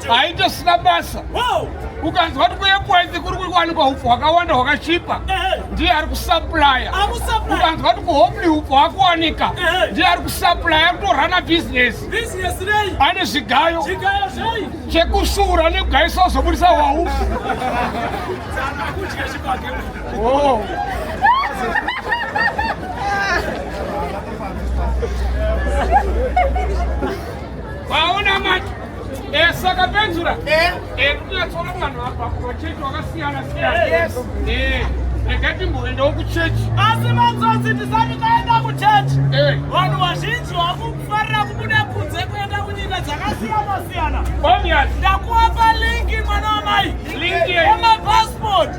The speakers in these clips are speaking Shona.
haitosina basa ukanzwa kuti kuekwenzi kuri kuwanikwa upfu hwakawanda hwakachipa ndiye ari kusaplaya ukanzwa kuti kuhomli upfu hwakuwanika ndiye ari kusaplaya kutorana bhizinesi ane zvigayo chekusura nekugayisa wazobudisa hwaufu oh. Waona manje eh, saka penzura eh. eh, kunyatsona vanhu vabva kumachechi wakasiyana siyana eh, rega timboendawo kuchechi asi manzonzi tisati taenda kuchechi vanhu vazhinji vakufarira kubuda kunze kuenda kunyika dzakasiyana siyana ndakuwapa linki mwana wamai emapasipoti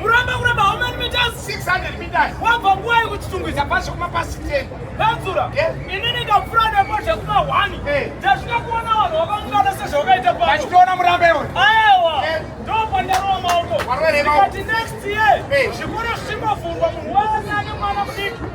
Muramba kuramba how many meters? 600 meters. Wabva nguva yekuchitungwiza pasi kuma pasi 10. Badzura. Yes. Ini ndikapfura nepo zvekuma 1. Eh. Ndasvika kuona vanhu vakangana sezvavakaita pano. Vachitoona muramba iwe. Aiwa. Yes. Ndopandarowa maoko. Warwere maoko. Ndikati next year. Eh. Zvikoro zvichingovhurwa munhu wese ane mwana mudiki.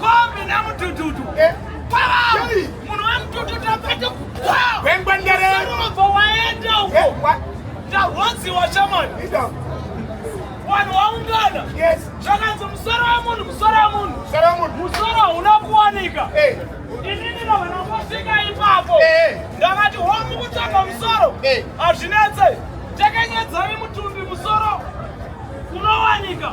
Kombi na mutututu. Eh. Wow! Munhu wa mutututu apete kukwa. Wengwa ndere. Sarova waenda uko. Eh, wa. Tarwonzi wa shaman. Ida. Wanhu waungana. Yes. Zvakanzi musoro wa munhu, musoro wa munhu. Musoro wa munhu. Musoro hauna kuwanika. Eh. Inini na vana vasvika ipapo. Eh. Ndakati homu kutsvaga musoro. Eh. Hazvinetse. Takanyadzari mutumbi musoro. Unowanika.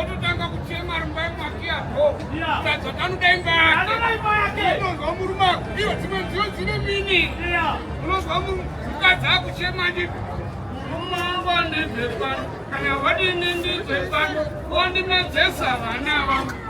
Ototanga kuchema ari mumba yemwake yako. Tadza tanoda imba yake. Unonzwa murume ako. Iyo dzimwe nziyo dzine mini. Unonzwa mukadzi akuchema ndi murume wangu andibve pano. Kana wadini ndibve pano. Wondimedzesa vana vangu.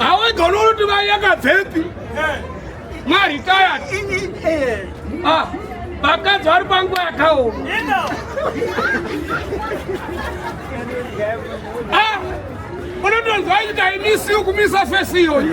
awaigona unoti mai yakabvepi maritayati ah, vakadzi vari panguva yakaoma ah, unotonzwa nyika imisi yokumisa fesi iyoyi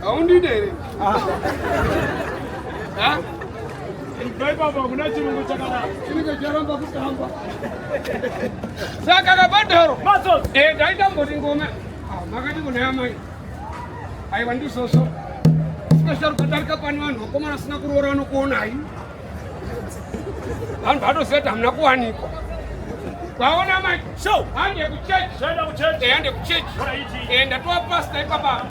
Haundide here? Ah. Ha? saka kabadharo eh, ndaitamboti ngoma ah, makati kunaya mai aiwa ndisoso sikasharukadarika pani vanhu vakomana asina kuroora vanokuonai vanhu vanoziva kuti hamuna kuwanikwa kwaona manje hande kuchechi hande kuchechi enda towa pasta ipapa